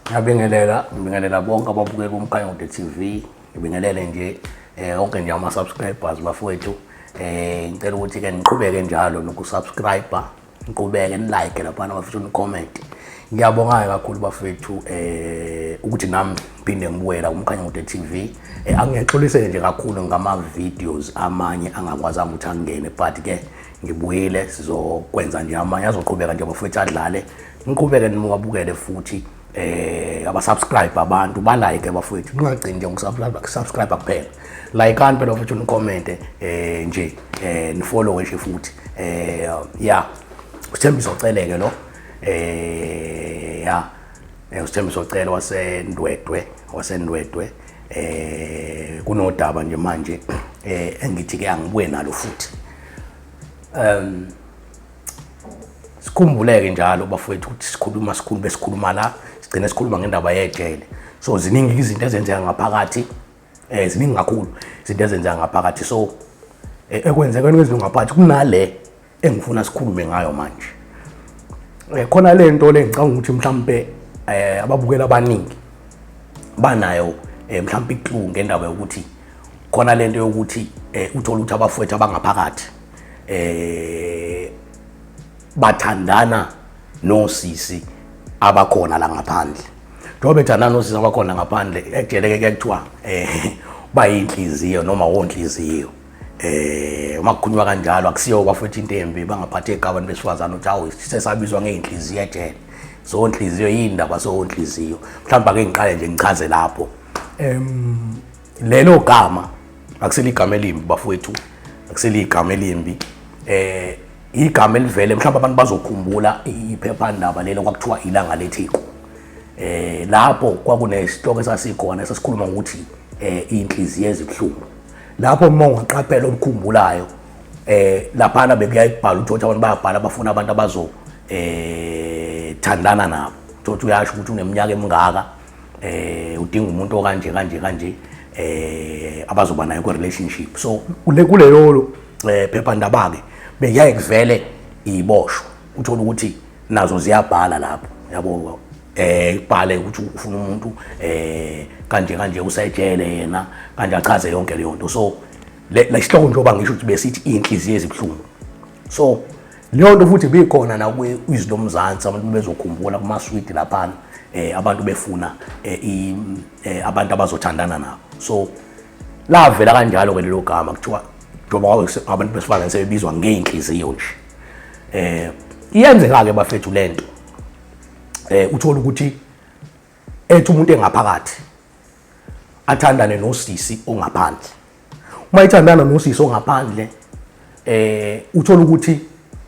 Ngiyabingelela, ngibingelela bonke ababukela uMkhanyakude TV. Ngibingelele nje eh onke nje ama subscribers bafowethu. Eh ngicela ukuthi ke niqhubeke njalo nokusubscriber, niqhubeke nilike lapha bafethu ni comment. Ngiyabonga kakhulu bafethu eh ukuthi nami ngiphinde ngibuyela uMkhanyakude TV. Eh angiyexolise nje kakhulu ngama videos amanye angakwazanga ukuthi angene but ke ngibuyile sizokwenza nje amanye azoqhubeka nje bafethu adlale niqhubeke niwabukele futhi eh abasubscribe abantu balike bafethu ningagcini nje ukusubscribe subscribe kuphela like ani phela futhi unicomment eh nje eh nifollow nje futhi eh yeah usithembiso oceleke lo eh yeah eh, usithembiso ocela wasendwedwe wasendwedwe eh kunodaba nje manje eh engithi ke angibuye nalo futhi um sikhumbuleke njalo bafowethu ukuthi sikhuluma sikhulu besikhuluma la sigcine sikhuluma ngendaba yejele so ziningi izinto ezenzeka ngaphakathi um ziningi kakhulu izinto ezenzeka ngaphakathi so eh, ekwenzekweni kwezilungu ngaphakathi kunale engifuna sikhulume ngayo manje um khona le nto le ngicanga ukuthi mhlawumpe um ababukeli abaningi banayo um mhlawumpe iklu ngendaba yokuthi khona lento yokuthi eh, uthole ukuthi abafowethu abangaphakathi eh bathandana nosisi abakhona la ngaphandle njengoba bethandana nosisi abakhona ngaphandle ejeleke ke kuthiwa eh bayinhliziyo noma wonhliziyo eh uma kukhulunywa kanjalo akusiyo bafowethu into embi bangaphathi egabantu besifazane ukuthi awu sesabizwa ngeyinhliziyo ejele so nhliziyo yini ndaba so nhliziyo mhlawumbe ake ngiqale nje ngichaze lapho em lelo gama akusile igama elimbi bafowethu akusile igama elimbi eh igama elivele mhlawumbe abantu bazokhumbula iphephandaba lelo kwakuthiwa ilanga letheku eh lapho kwakunesihloko esasikhona esasikhuluma ngokuthi eh inhliziyo ezibuhlungu lapho uma ungaqaphela okukhumbulayo eh laphana bekuyaye kubhala ukuthi abantu bayabhala bafuna abantu abazo eh thandana nabo uthi uyasho ukuthi uneminyaka emingaka eh udinga umuntu okanje kanje kanje eh abazoba nayo ku relationship so kule kuleyo eh phepha ndaba ke beyaye kuvele iboshwa uthola ukuthi nazo ziyabhala lapho yabo eh ibhale ukuthi ufuna umuntu eh kanje kanje usejele yena kanje achaze yonke leyo nto so le sihloko njengoba ngisho ukuthi besithi inhliziyo ezibuhlungu so leyo nto futhi bikhona la kwi-izwi lomzansi abantu bezokhumbula kumaswidi laphana um abantu befuna um abantu abazothandana nabo so lavela kanjalo-ke lelo gama kuthiwa njengoba abantu besifazane sebebizwa ngey'nhliziyo nje eh iyenzeka-ke bafethu le nto eh uthole ukuthi ethi umuntu engaphakathi athandane nosisi ongaphandle uma ithandana nosisi ongaphandle eh uthola ukuthi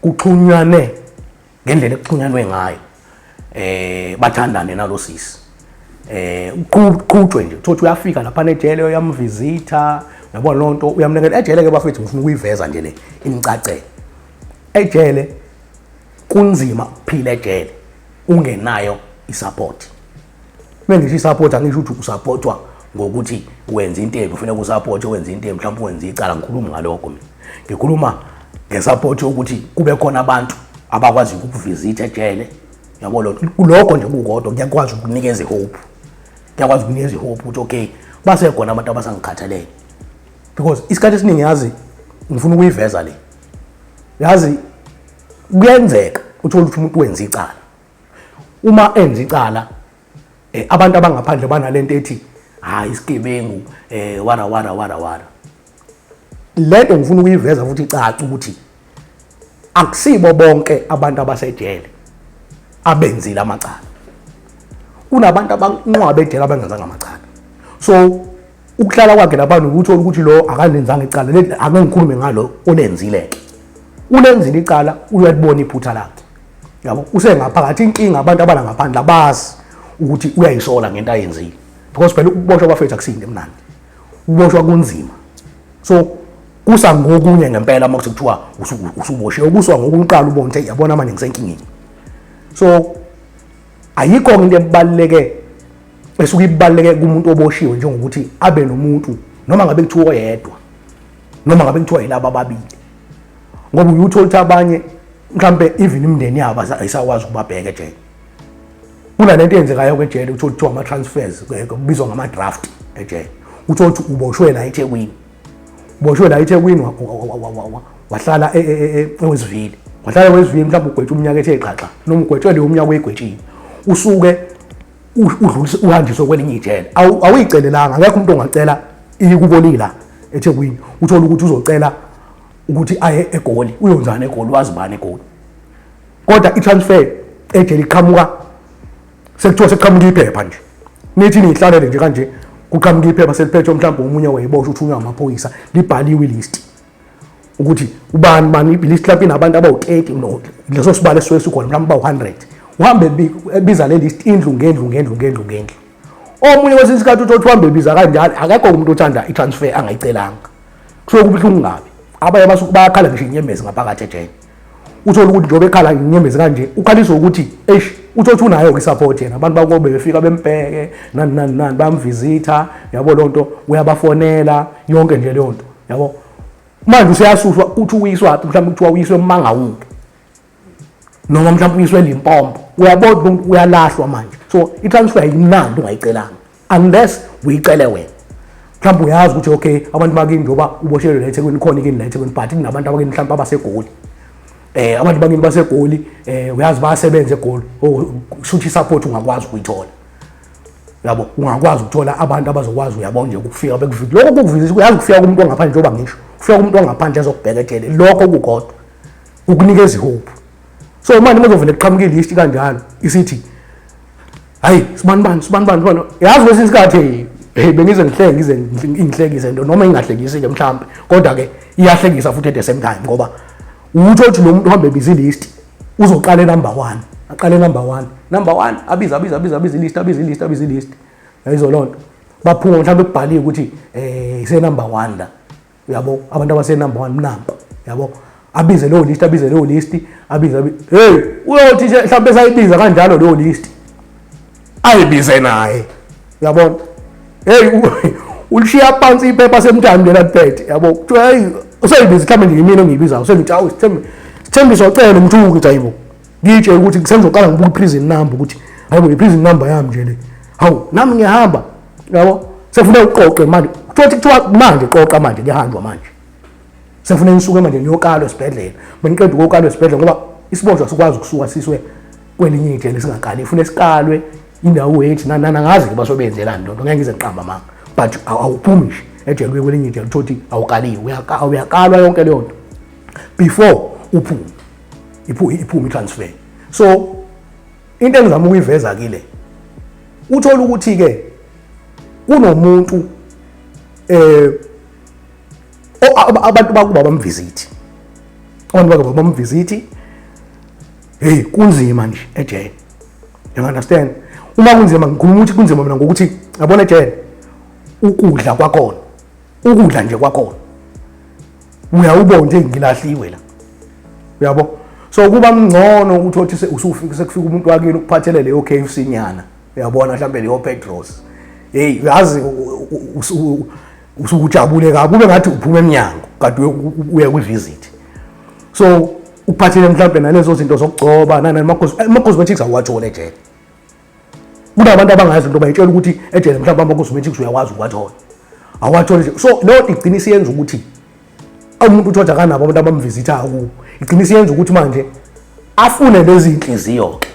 kuxhunywane ngendlela ekuxhunyanwe ngayo eh bathandane nalosisi eh uqhutshwe nje uthothi uyafika lapha nejele uyamvisita yabona lonto uyamnikela ejele ke bafethu ngifuna ukuyiveza nje le imcacele ejele kunzima ukuphila ejele ungenayo isupport Uma ngisho isapoti angisho ukuthi usapotwa ngokuthi wenza into embi kufanele kusapoti wenza into embi mhlawumbe wenza icala ngikhuluma ngalokho mina ngikhuluma ngesapoti yokuthi kube khona abantu abakwazi ukukuvizitha ejele yabo lo kuloko nje kukodwa ngiyakwazi ukunikeza ihope ngiyakwazi ukunikeza ihope ukuthi okay basekhona abantu abasangikhathalele because isikhathi esiningi yazi ngifuna ukuyiveza le yazi kuyenzeka uthole ukuthi umuntu wenza icala uma enza icala eh, abantu abangaphandle banalento ethi hayi ah, isigebengu eh wara wara wara wara lento ngifuna ukuyiveza futhi icaca ukuthi akusibo bonke abantu abasejele abenzile amacala kunabantu abanqwabe ejele abengenzanga amacala so ukuhlala kwakhe lapha nokuthi ukuthi lo akalenzanga icala leli ake ngikhulume ngalo olenzile ke ulenzile icala uyalibona iphutha lakhe yabo usengaphakathi inkinga abantu abala ngaphandle abazi ukuthi uyayisola ngento ayenzile because phela ukuboshwa kwafethu akusinde mnandi ukuboshwa kunzima so kusa ngokunye ngempela uma kuthi kuthiwa usuboshiwe ukuswa ngokuqala ubone ukuthi yabona manje ngisenkingeni so ayikho into ebaluleke esuke ibaluleke kumuntu oboshiwe njengokuthi abe nomuntu noma ngabe kuthiwa oyedwa noma ngabe kuthiwa yilaba ababili ngoba uyuthola ukuthi abanye mhlampe even imndeni yabo ayisakwazi ukubabheka ejele kunale nto eyenzekayo kwejele uthole kuthiwa ama-transfers kubizwa ngama-draft ejele uthole ukuthi uboshwe la ethekwini uboshwe la ethekwini wahlala e, e, e, ewezivile wahlala ewezivile mhlawumbe ugwetshe umnyaka ethe xaxa noma ugwetshwe leyo umnyaka oyigwetshile usuke udlulise uhanjiswe kwelinye ijele awuyicelelanga akekho umuntu ongacela ikubolila ethekwini uthole ukuthi uzocela ukuthi aye egoli uyonjani egoli wazi bani egoli kodwa i-transfer ejele iqhamuka sekuthiwa sekuqhamuka iphepha nje nithi niyihlalele nje kanje kuqhamuka iphepha seliphethwe mhlawumbe omunye wayeboshwa uthunywa amaphoyisa libhaliwe ilist ukuthi ubani bani ibhilisi clubini abantu abawu-30 no leso sibalo esuke sikhona mhlawumbe bawu-100 uhambe ebiza le list indlu ngendlu ngendlu ngendlu ngendlu omunye kwesinye isikhathi uthi uhambe ebiza kanjalo akekho umuntu othanda i-transfer angayicelanga kusuke kubuhlungu ngabi abanye basuke bayakhala ngisho inyembezi ngaphakathi ejele uthole ukuthi njengoba ekhala nginyembezi kanje ukhaliswa ukuthi eish uthothi unayo kwi-support yena abantu bakobe befika bembheke nani nani nani bayamvizitha yabo loo nto uyabafonela yonke nje leyo nto yabo manje useyasuswa uthi uyiswaphi mhlawumbe kuthiwa uyiswe emangawuke noma mhlawumbe uyiswe limpompo uyabona ukuthi uyalahlwa manje so i-transfer yimnandi ungayicelanga unless uyicele wena mhlawumbe uyazi ukuthi okay abantu bakini njengoba uboshelwe la ethekwini khona ikini la ethekwini but kunabantu abakini mhlawumbe abasegoli eh abantu bakini basegoli eh uyazi bayasebenza egoli oh, shuthi support ungakwazi ukuyithola yabo ungakwazi ukuthola abantu abazokwazi uyabona nje ukufika bekuvika lokho kukuvisa uyazi ukufika kumuntu ongaphandle njengoba ngisho ufika kumuntu ongaphandle ezokubhekethele lokho kukodwa ukunikeza ihope so manje uma uzovele kuqhamuke ilist kanjalo isithi hayi sibanibani sibanibani sibani yazi kwesinye isikhathi hey bengize ngihleke ngize ingihlekise into noma ingahlekisike mhlambe kodwa ke iyahlekisa futhi at the same time ngoba utho ukuthi lo muntu uhambe busy list uzoqala number 1 aqale number 1 number 1 abiza abiza abiza abiza list abiza list abiza list yayizolonto baphuma mhlambe kubhaliwe ukuthi eh ise number 1 la uyabo abantu abase number 1 mnamba yabo abize leyo list abize leyo list abize hey uyothi nje mhlawumbe sayibiza kanjalo leyo list ayibize naye uyabona hey ulishiya phansi iphepha semthambi lela liphethe yabo kuthiwa hey useyibiza mhlawumbe nje yimina ongiyibizayo sengithi awu sithembe sithembisa ocela umthuku ukuthi ayibo ngitshela ukuthi sengizoqala ngibuka i-prison number ukuthi hayibo i-prison number yami nje le hawu nami ngiyahamba yabo sefuna uqoqe manje futhi kuthiwa manje qoqa manje kuyahanjwa manje sefuna nisuke manje niyokalwa esibhedlela beniqeda ukuyokalwa esibhedlela ngoba isibonjwa sikwazi ukusuka siswe kwelinye ijele singakali ifuna sikalwe indawo yethu nanana ngazi-ke basobenzelani lonto ngeke ngize ngiqamba manga but awuphumi nje ejele uye kwelinye ijele uthouthi awukaliwe uyakalwa yonke leyo nto before uphume iphume i-transfer so into engizama ukuyiveza kile uthola ukuthi ke kunomuntu eh abantu bakuba bamvisit abantu bakuba bamvisit hey kunzima nje ejele you understand uma kunzima ngikhuluma ukuthi kunzima mina ngokuthi yabona ejele ukudla kwakhona ukudla nje kwakhona uyawubo nje ngilahliwe la uyabo so kuba mngcono ukuthi othi usufika sekufika umuntu wakini ukuphathele leyo KFC nyana uyabona mhlawumbe leyo Petros hey uyazi usukujabule kabi kube ngathi uphuma emnyango kade uya kwi visit so uphathele mhlawumbe nalezo zinto zokugcoba nani makhosi eh, makhosi bethiks awuwathole nje kunabantu abangazi nto bayitshela ukuthi ejele mhlawumbe amakosmetics uyakwazi ukuwathola awathole nje so leyo nto igcina isiyenza ukuthi umuntu uthi akanabo abantu abamvizithayo kuwo igcina isiyenza ukuthi manje afune lezi nhliziyo-ke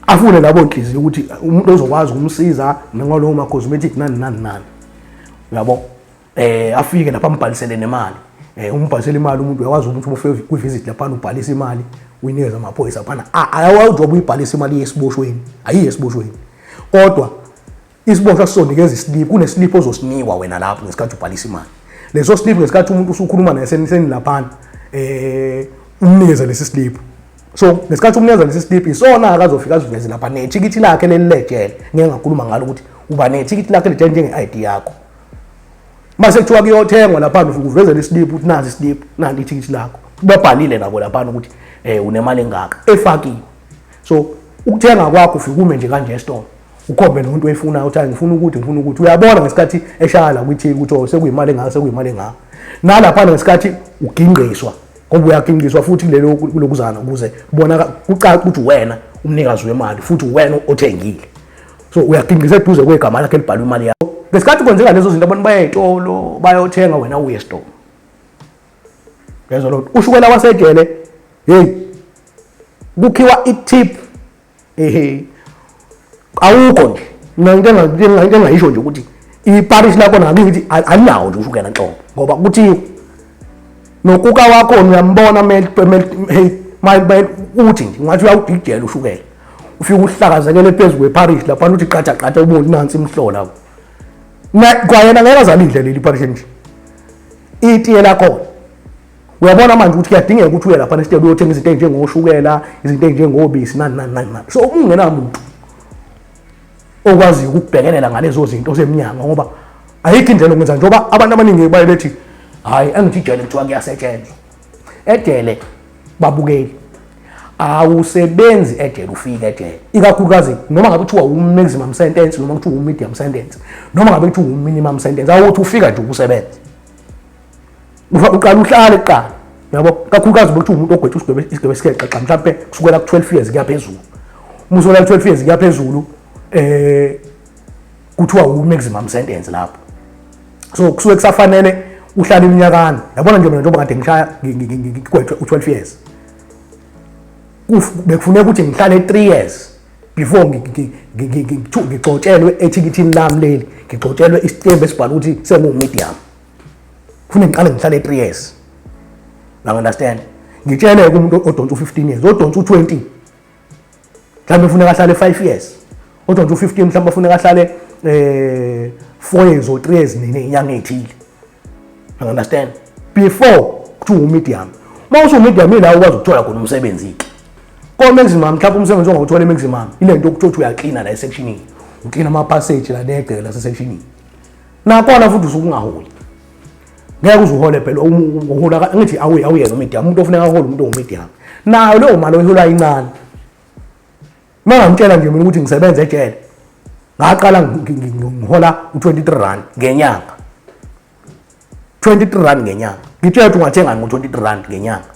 afune labo nhliziyo ukuthi umuntu ozokwazi ukumsiza nangalowo ma-cosmetic nani nani nani uyabo eh afike lapha ambhalisele nemali eh umbhalisele imali umuntu uyakwazi ukuthi ubufike kwi visit lapha ubhalisa imali uyinikeza amaphoyisa phana ayawawuthi wabuyibhalisa imali yesiboshweni ayiye esiboshweni kodwa isiboshwa sizonikeza isiliphu kunesiliphu ozosinikwa wena lapho ngesikhathi ubhalisa imali leso siliphu ngesikhathi umuntu usukhuluma naye senilaphana eh umnikeza lesi siliphu so ngesikhathi umnikeza lesi siliphu isona akazofika aziveze lapha nethikithi lakhe leli lejele ngeke ngakhuluma ngalo ukuthi uba nethikithi lakhe lejele njenge-id yakho mase kuthiwa kuyothengwa lapha uvezela isiliphu ukuthi nazi isiliphu nanti ithikithi lakho babhalile nabo lapha ukuthi eh unemali engaka efakiwe so ukuthenga kwakho ufikume nje kanje esitolo ukhombe nomuntu oyifunayo uthi ngifuna ukuthi ngifuna ukuthi uyabona ngesikhathi eshaya la kwithi ukuthi oh sekuyimali engaka sekuyimali engaka nalapha ngesikhathi ugingqiswa ngoba uyagingqiswa futhi kulelo kulokuzana ukuze bona kucaca ukuthi wena umnikazi wemali futhi wena othengile so uyagingqiza eduze kwegama lakhe elibhalwe imali yakho ngesikhathi kwenzeka lezo zinto abantu baya ey'tolo bayothenga wena uye esitolo ngezwa loo nto ushukela wasejele heyi kukhiwa itip ehe awukho nje mina into engayisho nje ukuthi iparish lakho nami ngithi alinawo nje ushukela nhlobo ngoba kuthiwa nokuka wakho uyambona hey uthi nje ngathi uyawudidela ushukela ufike uhlakazekele phezu kweparish lapha uthi qatha qatha uboni nansi imhlola kwayena ngeke azalidle leli parish nje itiye lakhona uyabona manje ukuthi kuyadingeka ukuthi uye lapha nesitebe uyothenga izinto ezinjengoshukela izinto ezinjengobisi nani nani nani so ungenamuntu okwaziyo ukubhekelela ngalezo zinto osemnyango ngoba ayikho indlela okwenza njengoba abantu abaningi baye bethi hhayi engithi ijele kuthiwa kuyasetshenzwa ejele babukeli awusebenzi ejele ufike ejele ikakhulukazi noma ngabe kuthiwa wu-maximum sentence noma kuthiwa wu-medium sentence noma ngabe kuthiwa wu-minimum sentence awuthi ufika nje ukusebenza uqala uhlale kuqala yabo kakhulukazi ukuthi umuntu ogwethe isigwebo isigwebo esikeqeqa mhlawumbe kusukela ku-12 years kuya phezulu uma usola ku-12 years kuya phezulu eh kuthiwa u-maximum sentence lapho so kusuke kusafanele uhlale iminyakana yabona nje mina njengoba kade ngishaya ngigwethe u-12 years bekufuneka ukuthi ngihlale 3 years before ngigcotshelwe ethikithini lami leli ngigcotshelwe isitembu esibhala ukuthi senguwumedium funa ngiqale ngihlale e-3 years now understand ngitshele umuntu odonsa u-15 years odonsa u-20 mhlawumbe ufuneka ahlale 5 years odonsa u-15 mhlawumbe ufuneka ahlale eh 4 years or 3 years nini inyanga ethile you understand before kuthiwa umedium uma usumedium ila ukwazi ukuthola khona umsebenzi ke komeximum mhlawumbe umsebenzi ongawuthola emeximum ile nto okuthiwa uyaklina la esekshinini uklina ama-passage la negceke lasesekshinini Nakona futhi usukungaholi. Ngeke uzuhole phela uhola ngithi awuye awuyena umedia umuntu ofuneka ahole umuntu ongumedia. Nayo leyo mali oyihola incane. Mangamtshela nje mina ukuthi ngisebenza ejele. Ngaqala ngihola u23 rand ngenyanga. 23 rand ngenyanga. Ngitshela ukuthi ungathenga ngo23 rand ngenyanga.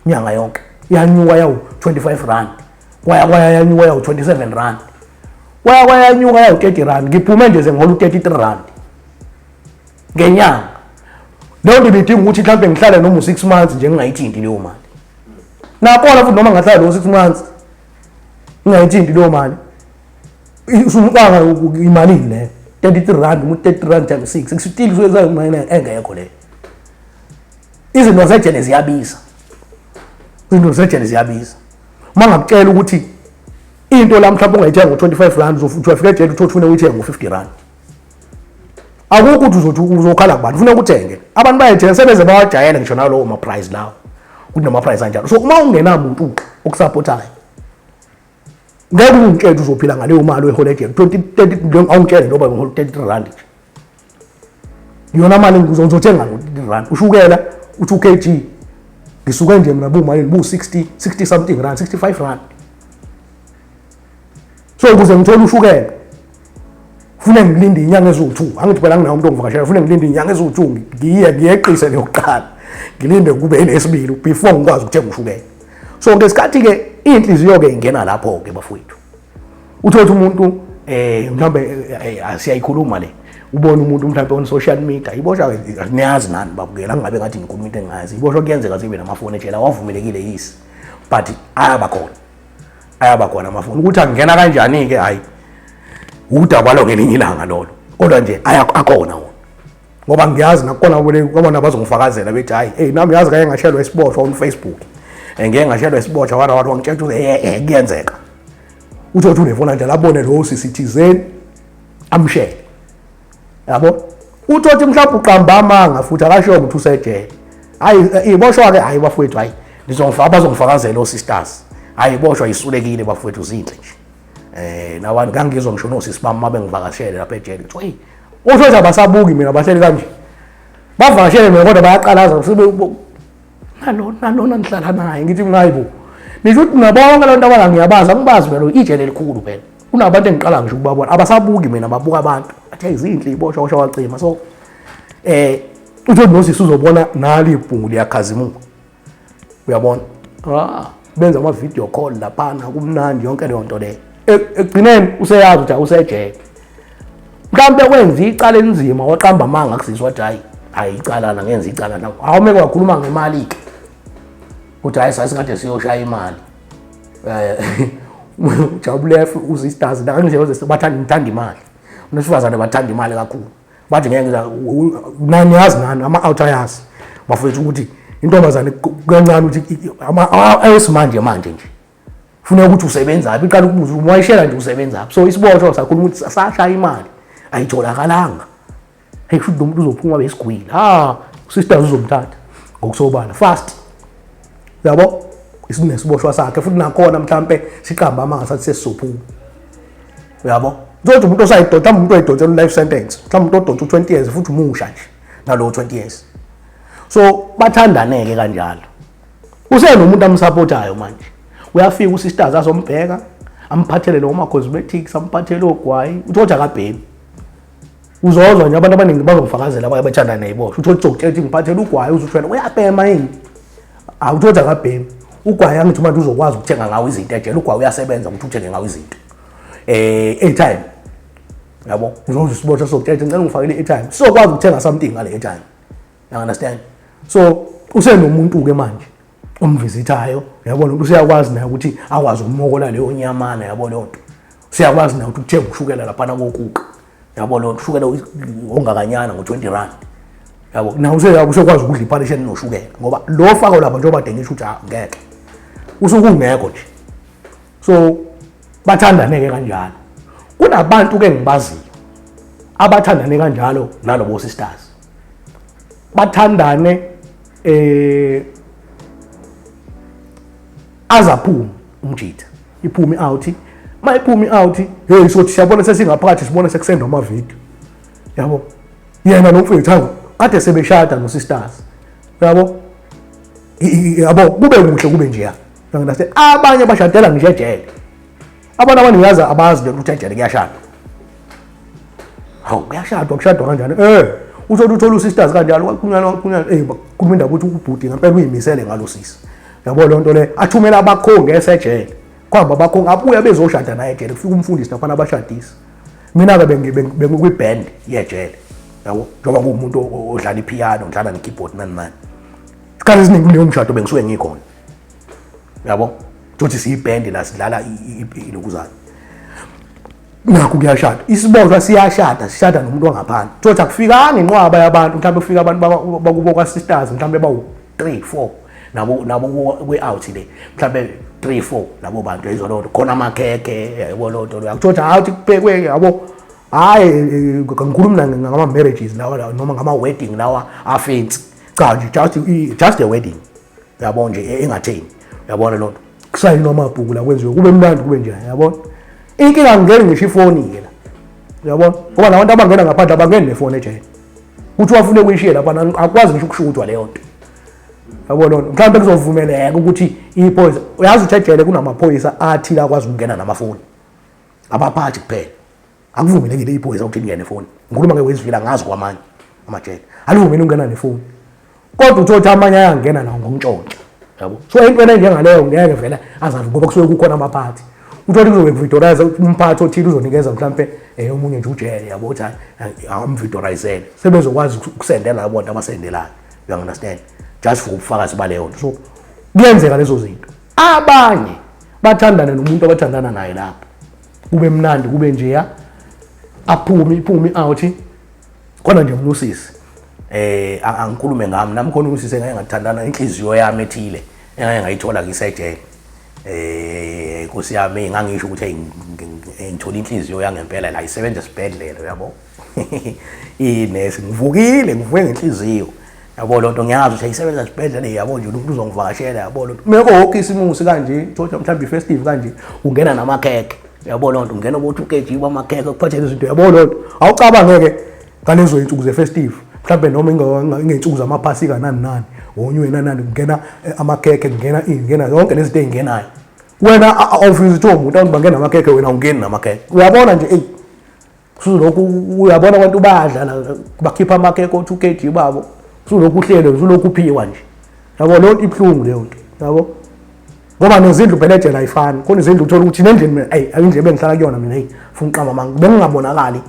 Nyanga yonke. Yanyuka yawu 25 rand. kwaya kwaya yanyuka yawu 27 rand kwaya kwaya yanyuka yawu 30 rand ngiphume nje sengihola u-33 rand ngenyanga leyo nto ibidinga ukuthi mhlawumbe ngihlale noma u-six months nje ngingayithinti leyo mali nakona futhi noma ngahlala leyo six months ngingayithinti leyo mali usumqanga imalini leyo 33 rand umu-30 rand times six kusitile usuyenza imali engekho leyo izinto zejele ziyabiza izinto zejele ziyabiza uma ngakutshela ukuthi into la mhlawumbe ungayithenga ngo-25 rand uzothi uyafika ejele uthi ufune uyithenga ngo-50 rand akukho ukuthi uzothi uzokhala kubantu ufuna ukuthenge abantu bayayithenga sebeze bawajayele ngisho nalowo maprice lawo ukuthi namaprice anjalo so uma ungenamuntu uqa okusapothayo ngeke ungitshele uzophila ngaleyo mali oyihola ejele 20 awungitshele njengoba ngihola 33 rand nje yona mali ngibuza uzothenga rand ushukela uthi ukg ngisuke nje mina bumalini bu-60 60 something rand 65 rand so ukuze ngithole ushukela fune ngilinde inyanga eziwu-two angithi phela nginawo umuntu ongivakashela fune ngilinde inyanga eziwu-two ngiye ngiyeqise leyokuqala ngilinde kube elesibili before ngikwazi ukuthenga ushukela so ngesikhathi-ke iy'nhliziyo-ke ingena lapho-ke bafowethu uthotha umuntu um eh, mhlawumbe eh, eh, siyayikhuluma le ubone umuntu mhlawumbe on social media iboshwa niyazi nani babukela angabe ngathi ngikhuluma into engazi iboshwa kuyenzeka zibe namafoni etshela wavumelekile yisi but ayaba khona ayaba khona amafoni ukuthi angena kanjani-ke hhayi udaba lwangelinye ilanga lolo kodwa nje akhona wona ngoba ngiyazi nakukhona abona abazongifakazela bethi hayi hey nami yazi kanye ngashelwa isiboshwa on Facebook eh, ngeke ngashelwa isiboshwa wara wara wangitshela ukuthi eh, eh kuyenzeka uthi uthi unefona njalo abone lo sisithizeni amshele yabo uthi uthi mhlawumbe uqamba amanga futhi akashiyo ukuthi usejele hayi eh, iboshwa ke hayi bafowethu hayi ngizongifaka bazongifakazela osisters hayi iboshwa isulekile bafowethu zinhle nje Eh nawa ngangizwa ngisho nosisi bami mabe ngivakashele lapha ejele kuthiwa hey usho ukuthi abasabuki mina bahleli kanje. Bavakashele mina kodwa bayaqalaza sibe nalona nalona nihlala naye ngithi ngayibo. Nisho ukuthi nabonke lonto abala ngiyabazi angibazi vele ijele elikhulu phela. Kunabantu engiqala ngisho ukubabona abasabuki mina babuka abantu. Athi izinhle iboshwa kwasho wacima so eh uthi nosisi uzobona nali ibhungu liyakhazimuka uyabona ah benza ama video call laphana kumnandi yonke leyo nto leyo e, ekugcineni useyazi ukuthi usejele mhlawumbe kwenza icala elinzima waqamba amanga kusisi wathi hayi hayi icala na ngenza icala na awume kwakhuluma ngemali ke ukuthi hayi sasingathi siyoshaya imali eh ujabulefu usisters la nje bathanda imali unasifazane bathanda imali kakhulu bathi ngeke nani yazi nani ama-out ayazi bafethu ukuthi intombazane kancane ukuthi ayesimanje manje nje funeka ukuthi usebenzaphi iqala ukubuza ukuthi wayishela nje usebenzaphi so isiboshwa sakhuluma ukuthi sashaya imali ayitholakalanga heyi futhi lo muntu uzophuma besigwile ha usisters uzomthatha ngokusobala fast yabo isinesiboshwa sakhe futhi nakhona mhlampe siqamba amanga sathi sesizophuma uyabo uzothi umuntu osayidonsa mhlawumbe umuntu oyidonsela u-life sentence mhlawumbe umuntu odonsa u-20 years futhi umusha nje nalowo 20 years so bathandaneke kanjalo usenomuntu amsapothayo manje uyafika usisters azombheka amphathele lowo ma-cosmetics amphathele ogwayi uthi kodwa akabhemi uzozwa nje abantu abaningi bazokufakazela abanye bethandana neyibosha uthi otshokuthi ethi ngiphathela ugwayi uzuthwela uyabhema yini hawu uthi othi akabhemi ugwayi angithi manje uzokwazi ukuthenga ngawo izinto ejele ugwayi uyasebenza ukuthi uthenge ngawo izinto um airtime yabo uzoze usibosha sokutshela ngicela ngifakele i-airtime sizokwazi ukuthenga something ngale airtime you understand so usenomuntu-ke manje omvisithayo yabo lento usiyakwazi naye ukuthi akwazi ukumokola leyo nyamana yabo lento usiyakwazi naye ukuthi uthenga ushukela lapha kokuqa yabo lento ushukela ongakanyana ngo20 rand yabo nawe useyakwazi ukudla iparishe noshukela ngoba lo fako lapha njengoba dengisha ukuthi ah, ngeke usukungekho nje so bathandaneke kanjalo kunabantu ke ngibaziyo abathandane kanjalo nalobo sisters bathandane eh azaphume umjitha iphume out mayiphume out hey sothi siyabona sesingaphakathi sibona sekusendwa ama video yabo yena lo mfowethu hawu kade sebeshada no sisters yabo yabo kube kuhle kube nje ya ngase abanye bashadela ngisho ejele Abantu abantu ngiyazi abazi lento ukuthi ejele kuyashadwa. Hawu kuyashadwa kushadwa kanjani? Eh usho ukuthi uthola usisters kanjalo kwakunyana kwakunyana eh bakhuluma indaba ukuthi ubhuti ngempela uyimisele ngalo sisi. Yabo le nto le athumela abakhongi esejele. Kwamba abakhongi abuya bezoshada naye ejele kufika umfundisi nafana abashadisi. Mina ke bengikwi band yejele. Yabo njengoba kuwumuntu odlala ipiano, udlala ne keyboard nani nani. Isikhathi esiningi kuleyo mshado bengisuke ngikhona. yabo thothi siyibhendi la sidlala ilokuzana nakho kuyashada isibonjwa siyashada sishada nomuntu wangaphandle thothi akufikanga inqwaba yabantu mhlawumbe kufika abantu bakubo kwa-sisters mhlawumbe bawu-three four nabo nabo kwe-out le mhlawumbe three four labo bantu yayizwa loo nto khona amakhekhe yayibona loo nto loyo akuthiwa ukuthi hawu ukuthi kuphekwe yabo hhayi ngikhulumi ngama-marriages lawa noma ngama-wedding lawa afensi cha nje just a wedding yabo nje e, engatheni yabona loo nto kusayinwa amabhuku la kwenziwe kube mnandi kube njani yabona inkinga ngingeni ngisho ifoni-ke la yabona ngoba nabantu abangena ngaphandle abangeni nefoni ejele ukuthi wafune ukuyishiye lapha akwazi ngisho ukusho ukuthi waleyo nto yabo lona mhlawumbe kuzovumeleka ukuthi iphoyisa uyazi ukuthi ejele kunamaphoyisa athile akwazi ukungena namafoni abaphathi kuphela akuvumelekile iy'phoyisa ukuthi lingene efoni ngikhuluma ke wezivila ngazi kwamanye amajele alivumeli ukungena nefoni kodwa uthi othi amanye ayangena nawo ngomntshontsha yabo so into ena njengaleyo ngeke vele azavi ngoba kusuke kukhona amaphathi uthole kuzobe kuvidorayiza umphathi othile uzonikeza mhlawumpe um eh, omunye nje ujele yabo ukuthi amvidorayizel sebezokwazi ukusendela labo bantu abasendelayo uyangunderstand just for ubufakazi baleyo nto so kuyenzeka lezo zinto abanye bathandane nomuntu abathandana naye lapho kube mnandi kube njeya aphume iphume out khona nje umnusisi eh angikhulume ngami nami khona umsisi engeke ngathandana inhliziyo yami ethile engeke ngayithola ngisejele eh inkosi yami ngangisho ukuthi ngithola inhliziyo yangempela la isebenza esibhedlela uyabo inesi ngivukile ngivuke ngenhliziyo yabo lonto ngiyazi ukuthi ayisebenza sibhedlela yabo nje umuntu uzongivakashela yabo lonto meko wonke isimusi kanje thoja mhlawumbe ifestive kanje ungena namakhekhe yabo lonto ungena ukuthi ukeji kwamakhekhe kuphathele izinto yabo lonto awucabangeke ngalezo zinsuku zefestive mhlawumbe noma ingey'nsuku zamaphasika nani nani wonye wena nani kungena eh, amakhekhe kungena ini kungena yonke lezi zinto ey'ngenayo wena awufisi kuthiwa umuntu awuthi bangena amakhekhe wena awungeni namakhekhe uyabona nje eyi usulokhu uyabona abantu bayadlala bakhipha amakeke o-2 kg babo usulokhu uhlele usulokhu uphiwa nje yabo leyo nto ibuhlungu leyo nto yabo ngoba nezindlu phela ejele ayifani khona izindlu uthola ukuthi nendlini mina ayi ayindlu ebengihlala kuyona mina eyi funa uqamba manga bengingabonakali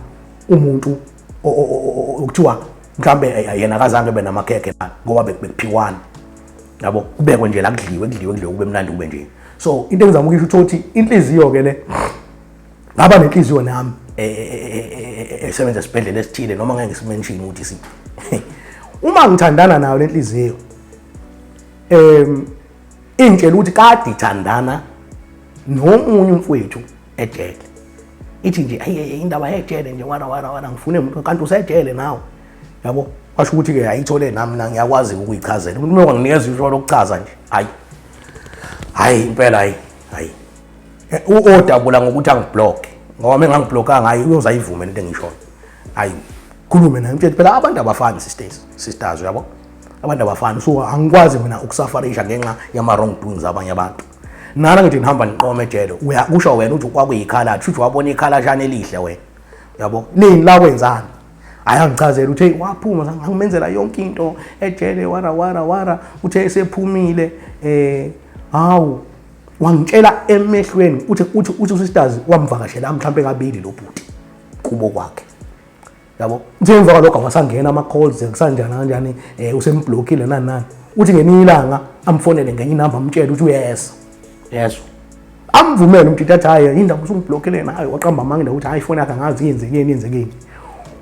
umuntu okuthiwa mhlawumbe yena akazange be namakhekhe lana ngoba bekuphiwana yabo kubekwe nje la kudliwe kudliwe kudliwe kube mnandi kube nje so into engizama ukuyisho ukuthi inhliziyo-ke le ngaba nenhliziyo nami e, e, e, esebenza esibhedlela esithile noma ngeke simenshini ukuthi si uma ngithandana nayo lenhliziyo em ingitshela ukuthi kade ithandana nomunye umfowethu ejele ithi nje ayi indaba yejele nje wara wara wara ngifune umuntu kanti usejele nawe yabo washo ukuthi ke ayithole nami na ngiyakwazi ukuyichazela umuntu uma nginikeza isho lokuchaza nje hayi hayi impela hayi hayi eh, uodabula ngokuthi angibloke ngoba uma engangibloka ngayo uyoza ayivume lento engishoyo ayi khulume naye mtshele phela abantu abafani sisters sisters uyabo abantu abafani so angikwazi mina ukusafarisha ngenxa yama wrong doings abanye abantu nana ngithi ngihamba niqome ejele uyakusho wena uthi kwakuyikhala shuthi wabona ikhala shana elihle wena uyabo nini la kwenzani ayangichazela uthe waphuma ngangimenzela yonke into ejele wara wara wara uthe esephumile eh hawu wangitshela emehlweni uthi uthi uthi usisters wamvakashela mhlawumbe kabili lo bhuti kubo kwakhe yabo uthe emva kwalokho awasangena ama-calls kusanjani kanjani eh, um usemblockile nani nani uthi ngeninye ilanga amfonele ngenye inamba amtshele ukuthi uyeza yeso amvumele umtshitshi athi hhayi yini ndaba usungiblockele nayo waqamba amanga indawo ukuthi hhayi ifoni yakhe angazi yenzekeni yenzekeni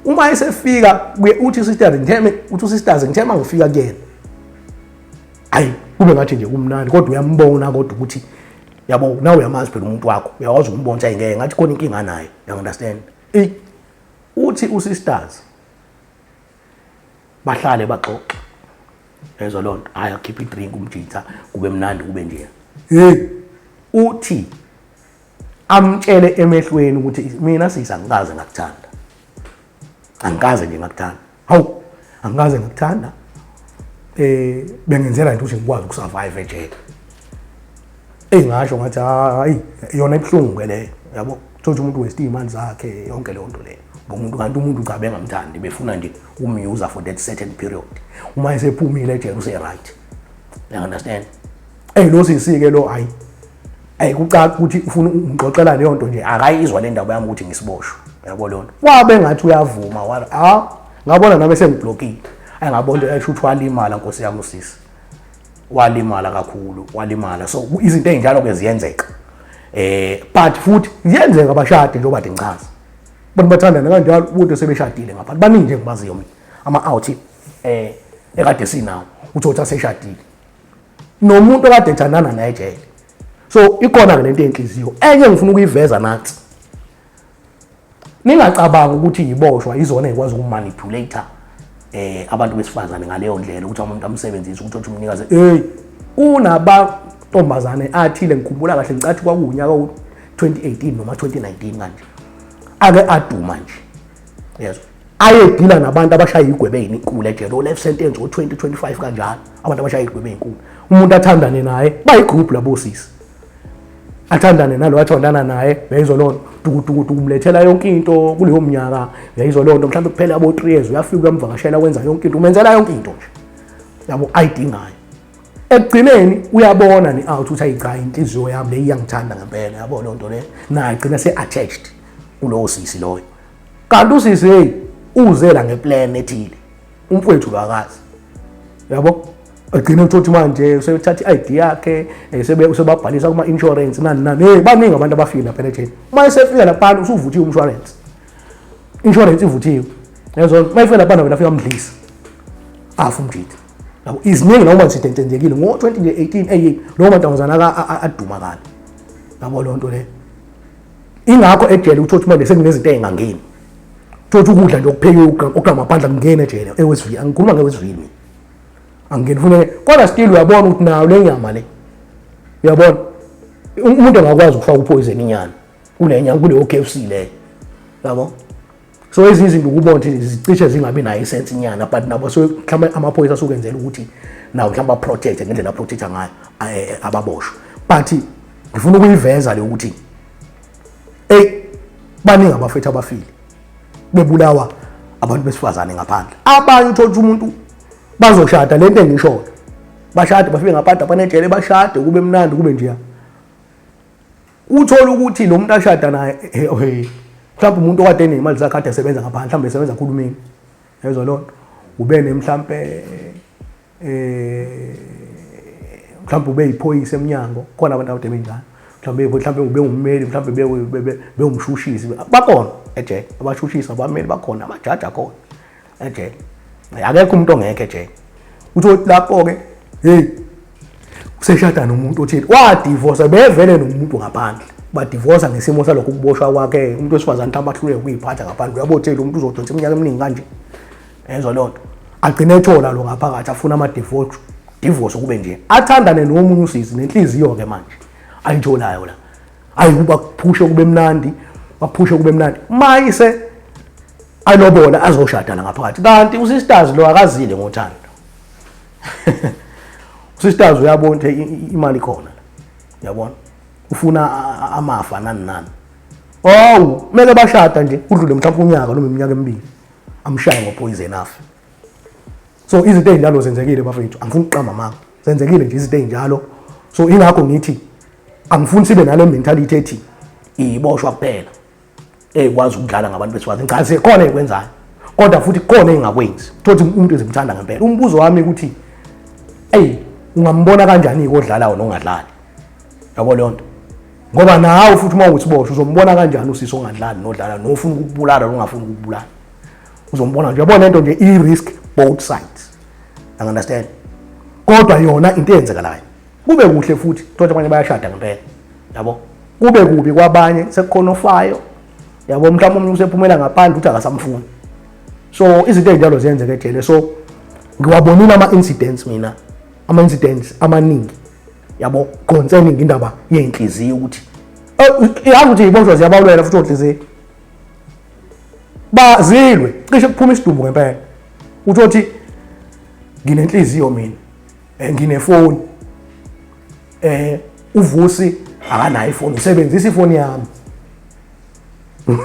uma esefika uthi usisters ngitheme uthi usisters ngithema ngifika kuyena hayi kube ngathi nje kumnandi kodwa uyambona kodwa ukuthi yabo nawe uyamazi phela umuntu wakho uyakwazi ukumbona ukuthi ayingeke ngathi khona inkinga naye you understand eyi uthi usisters bahlale baxoxe ezwa loo nto hhayi akhiphe idrink umjitha kube mnandi kube nje hey uthi amtshele emehlweni ukuthi mina sisa ngikaze ngakuthanda angikaze nje ngakuthanda hawu angikaze ngakuthanda eh bengenzela into ukuthi ngikwazi ukusurvive ejele eyi ngasho ngathi hayi yona ibuhlungu ke leyo yabo thothi umuntu westi imali zakhe yonke leyo nto leyo ngomuntu kanti umuntu cha bengamthandi befuna nje umyuza for that certain period uma esephumile ejele use-right you understand Ey lo sisi ke lo hayi. Ey kucaca ukuthi ufuna ungixoxela leyo nto nje akayizwa le ndaba yami ukuthi ngisiboshwe. Yabo leyo nto. Wabe ngathi uyavuma wala. Ah ngabona nami sengiblokile. Ay ngabona into esho ukuthi walimala nkosi yami usisi. Walimala kakhulu, walimala. So izinto ezinjalo ke ziyenzeka. Eh but futhi ziyenzeka abashadi njengoba ngichaza. Abantu bathandana kanjalo umuntu sebeshadile ngapha. Baningi nje ngibaziyo mina. Ama out eh ekade sinawo. Uthi uthi aseshadile. nomuntu okade ethandana naye ejele so ikona-ke lento yenhliziyo enye ngifuna ukuyiveza nathi ningacabangi ukuthi yiboshwa izona ekwazi ukumanipulate eh abantu besifazane ngaleyo ndlela ukuthi umuntu amsebenzise ukuthi othi umnikaze hey kunaba ntombazane athile ngikhumbula kahle ngicathi kwakuwunyaka u 2018 noma 2019 kanje ake aduma nje yezwa ayedila nabantu abashaya igwebe eyinkulu ejele o-life sentence o-2025 kanjalo abantu abashaya igwebe eyinkulu umuntu athandane naye bayigroup labo sisi athandane nalo athandana naye yayizwa loo nto tukutukutuku umlethela yonke into kuleyo mnyaka yayizwa loo nto mhlawumbe kuphela abo-three years uyafika uyamvakashela wenza yonke into umenzela yonke into nje yabo ayidingayo ekugcineni uyabona ne-out ukuthi ayichayi inhliziyo yami le iyangithanda ngempela yabo loo nto le naye gcina se-attached kulowo sisi loyo kanti usisi hey uzela ngeplan ethile umfowethu kakazi yabo agcine uthothi manje usethatha i-id yakhe eh, usebabhalisa kuma-insurance nani nani hey baningi abantu abafile lapha enetheni uma esefika laphana usuvuthiwe umshwarensi insurance ivuthiwe yezona uma ifika laphana wena afika mdlisa afu mjidi yabo iziningi lawo manzi sitentenzekile ngo-2018 eyi lowo mantombazana aduma kabi yabo loo nto leyo ingakho ejele uthola ukuthi manje sekunezinto ey'ngangeni thothi ukudla nje okuphekiwe okugqamaphandla kungena ejele ewesivini angikhuluma ngewesivini angingeni funeke kodwa still uyabona ukuthi nayo le nyama le uyabona umuntu angakwazi ukufaka uphoyizeni inyana kule nyama kuleyo k f c leyo yabo so ezinye izinto ukubona ukuthi zicishe zingabi nayo isense nyana but nabo so mhlawumbe amaphoyisa asukenzela ukuthi nawo mhlawumbe aprotect ngendlela aprotecta ngayo eh, eh, ababoshwe but ngifuna ukuyiveza le ukuthi eyi baningi abafethu abafile bebulawa abantu besifazane ngaphandle abanye uthole ukuthi umuntu bazoshada le nto engishoyo bashade bafike ngaphandle abanejele bashade kube mnandi kube njeya Uthola ukuthi lo muntu ashada naye mhlawumbe umuntu okade enemali zakhe ade esebenza ngaphandle mhlawumbe esebenza khulumini yezwa loo nto ube nemhlawumbe eh mhlawumbe ube yiphoyisa emnyango khona abantu abade beyingane mhlawumbe mhlawumbe ube ummeli mhlawumbe bewumshushisi bakhona ejele abashushisi abameli bakhona amajaji akhona ejele akekho umuntu ongekho ejele uthi othi lapho-ke heyi useshada nomuntu othile wadivosa bevele nomuntu ngaphandle badivosa ngesimo salokho ukuboshwa kwakhe umuntu wesifazane ukuthi abahluleke ukuyiphatha ngaphandle uyabothela umuntu uzodonsa iminyaka eminingi kanje ezwa loo nto agcine ethola lo ngaphakathi afuna amadivosi divosi kube nje athandane nomunye usisi nenhliziyo-ke manje ayitholayo la ayi kuba kuphushe kube mnandi baphushe kube mnandi mayise alobola azoshada la ngaphakathi kanti usisters lo akazile ngothando usisters uyabona ukuthi imali khona yabona ufuna amafa nani nani owu kumele bashada nje udlule mhlawumbe unyaka noma iminyaka emibili amshaye ngopoison afe so izinto ezinjalo zenzekile bafethu angifuni ukuqamba amanga zenzekile nje izinto ezinjalo so ingakho ngithi angifuni sibe nale mentality ethi iboshwa kuphela ekwazi ukudlala ngabantu besifazane cha sikhona ekwenzayo kodwa futhi khona engakwenzi thothi umuntu ezimthanda ngempela umbuzo wami ukuthi ey ungambona kanjani ikodlalayo nongadlali yabo leyo nto ngoba nawe futhi uma uthi boshwa uzombona kanjani usisi ongadlali nodlala nofuna ukubulala nongafuni ukubulala uzombona nje uyabona into nje i risk both sides i understand kodwa yona into eyenzekalayo kube kuhle futhi thola abanye bayashada ngempela yabo kube kubi kwabanye sekukhona ofayo yabo mhlawumbe umuntu usephumela ngaphandle uthi akasamfuni so izinto ezinjalo ziyenzeka ejele so ngiwabonile ama incidents mina ama incidents amaningi yabo concerning indaba yenhliziyo ukuthi eh, yazi ukuthi iboshwa ziyabalwela futhi onhliziyo bazilwe cishe kuphuma isidumbu ngempela uthi othi nginenhliziyo mina eh, nginefoni eh uvusi akanayo ifoni usebenzisa ifoni yami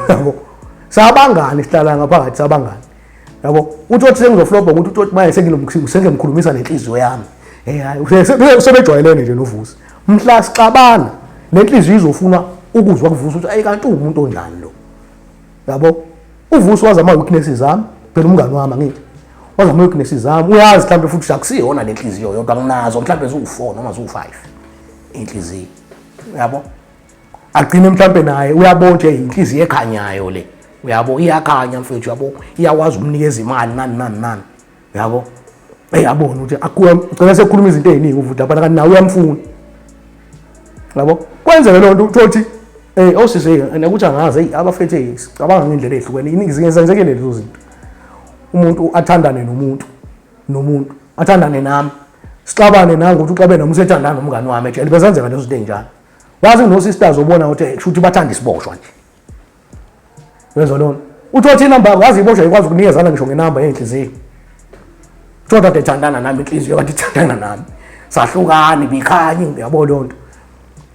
yabo sabangani sihlala ngaphakathi sabangani yabo uthi othi sengizoflobha ukuthi uthi othi manje sengimkhulumisa nenhliziyo yami hey hayi usebejwayelene nje novusi mhla sixabana nenhliziyo izofuna ukuzwa kuvusa ukuthi ayi kanti uwumuntu onjani lo yabo uvusi wazi ama-weaknesses ami phela umngani wami angithi wazi ama-weaknesses zami uyazi mhlawumbe futhi akusiyona le nhliziyo yodwa nginazo mhlawumbe ziwu-four noma ziwu-five inhliziyo yabo agcine mhlampe naye uyabo nje inhliziyo ekhanyayo le uyabo iyakhanya mfethu uyabo iyakwazi ukunikeza imali nani nani nani uyabo eyabona ukuthi akuya ugcina sekhuluma izinto eziningi uvuda abana kanti nawe uyamfuna yabo kwenzeke loo nto uthothi um eh, osisi oh, nakuthi angazi eyi abafethu eyi sicabanga ngendlela ehlukene iningi zingenzekele lezo zinto umuntu athandane nomuntu nomuntu athandane nami sixabane nangokuthi uxabene nomuntu sethandane nomngane wami ejele bezenzeka lezo zinto ey'njalo wazi no sisters obona ukuthi eh, shuthi bathanda isiboshwa nje wenza lona uthi othi inamba wazi iboshwa ikwazi ukunikezana ngisho ngenamba yenhliziyo kodwa kade thandana nami inhliziyo kanti thandana nami sahlukani bikhanye ngiyabo lonto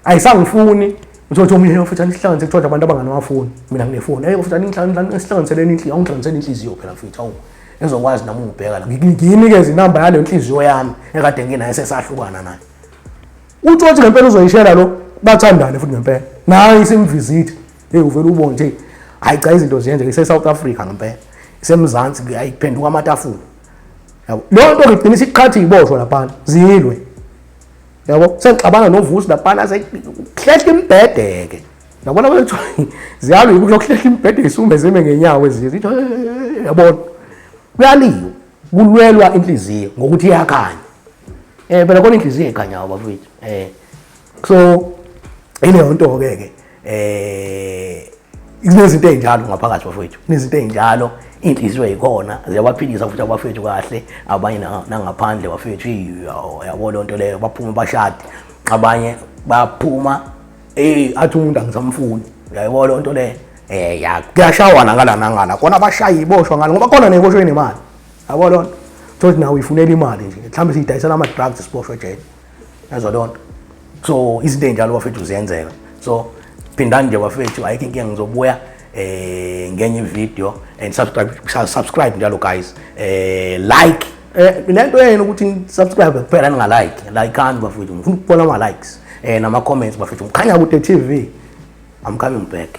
ayisangifuni uzothi omunye futhi anihlanganise kuthiwa abantu abanganawafoni mina nginefoni eyi futhi anihlanganiseleni inhliziyo awungihlanganisele inhliziyo phela futhi awu ezokwazi nami ungibheka la nginikeza inamba yaleyo nhliziyo yami ekade nginayo sesahlukana nayo uthi othi ngempela uzoyishela lo bathandane futhi ngempela naye isimvisit hey uvela ubone nje hayi cha izinto ziyenze ise South Africa ngempela isemzansi kuyayi kuphenduka amatafula yabo lo nto ngigcina isiqhathi iboshwa lapha zilwe yabo sengixabana novusi lapha sekuhlehla imbhedeke yabona wethu ziyalwa yikuhlehla imbhedeke isume zime ngenyawo ezizwe yabona kuyaliwa kulwelwa inhliziyo ngokuthi iyakhanya eh phela kona inhliziyo ekhanyayo bafowethu eh so ileyo nto ke ke eh kunezinto ezinjalo ngaphakathi bafowethu kunezinto ezinjalo inhliziyo yikhona ziyabaphilisa futhi abafethu kahle abanye nangaphandle bafethu yabo loo nto leyo baphume bashade abanye baphuma eh athi umuntu angisamfuni uyayibona onto le eh ya kuyashawana ngala nangala kona abashayi iboshwa ngalo ngoba kona neboshwe nemali yabo lonto thothi nawe uyifunela imali nje mhlawumbe siyidayisela ama drugs siboshwe ejele yazo lonto so izinto enjalo bafethu ziyenzeka so phindani nje bafethu ayikho inkinga ngizobuya eh ngenye video and subscribe subscribe njalo guys eh like eh lento yenu ukuthi subscribe kuphela ninga like like and bafethu ngifuna ukubona ama likes eh nama comments bafethu ngikhanya ku TV I'm coming back